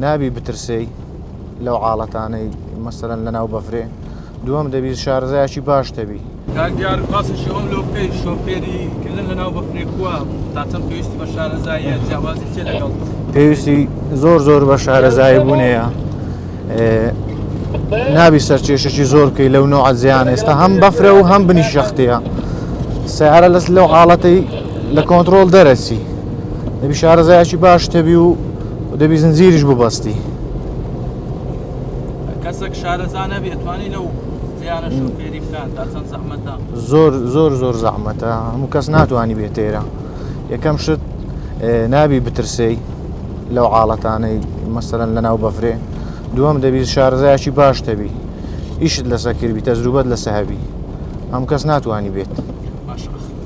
نابی بترسێی لەو عاڵەتانەی مەسەرەن لە ناو بەفرێ دووەم دەبی شارزایکی باش تەبی کاکدیار باسێکی ئەوم لۆ بکەی شۆفێری کردن لە ناو بەفرێ کووە تاچەند پێویستی بە شارەزاییە جیاوازی چێ لەگەڵ پێویستی زۆر زۆر بە شارەزایی بوونەیە نابی سەر کێشەی زۆر بکەی لەو نەوە زیان ئێستا هەم بەفرە و هەم بنی شەختەیە سیارە لەس لەو حاڵەتی لە کۆنترۆل دەرەچی دەبی شارەزایکی باش تەبی و دەبی زنجیریش ببەستی کەسێک شارەزا نەبێت توانی لەو زۆر زۆر زۆر زەحمەتە هەموو کەس ناتوانانی بێت تێرە یەکەم شت نابی بترسێی لەو عاڵەتانەی مەسەرەن لەناو بەفرێ دووەم دەبی شارەزایکی باش دەبی ئیشت لەسەکردبی تەزروبەت لەسە هەبی هەم کەس ناتوانانی بێت.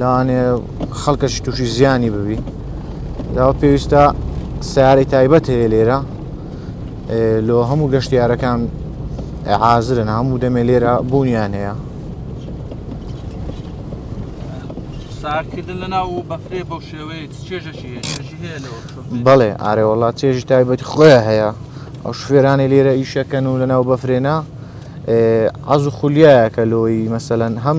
لەوانێ خەڵکەشی تووشی زیانی ببی داوە پێویستە سیارەی تایبەت هەیە لێرە لۆ هەموو گەشتیارەکان حازرن هەموو دەمێ لێرە بوونیان هەیە ساردکردن لەناو بەفرێ بەو شێوەیە چێژەشی بەڵێ ئارێ وڵات چێژی تایبەتی خۆیان هەیە ئەو شوێرانی لێرە ئیشەکەن و لەناو بەفرێنە ئازو خولیایەکە لۆی مەسەەن هەم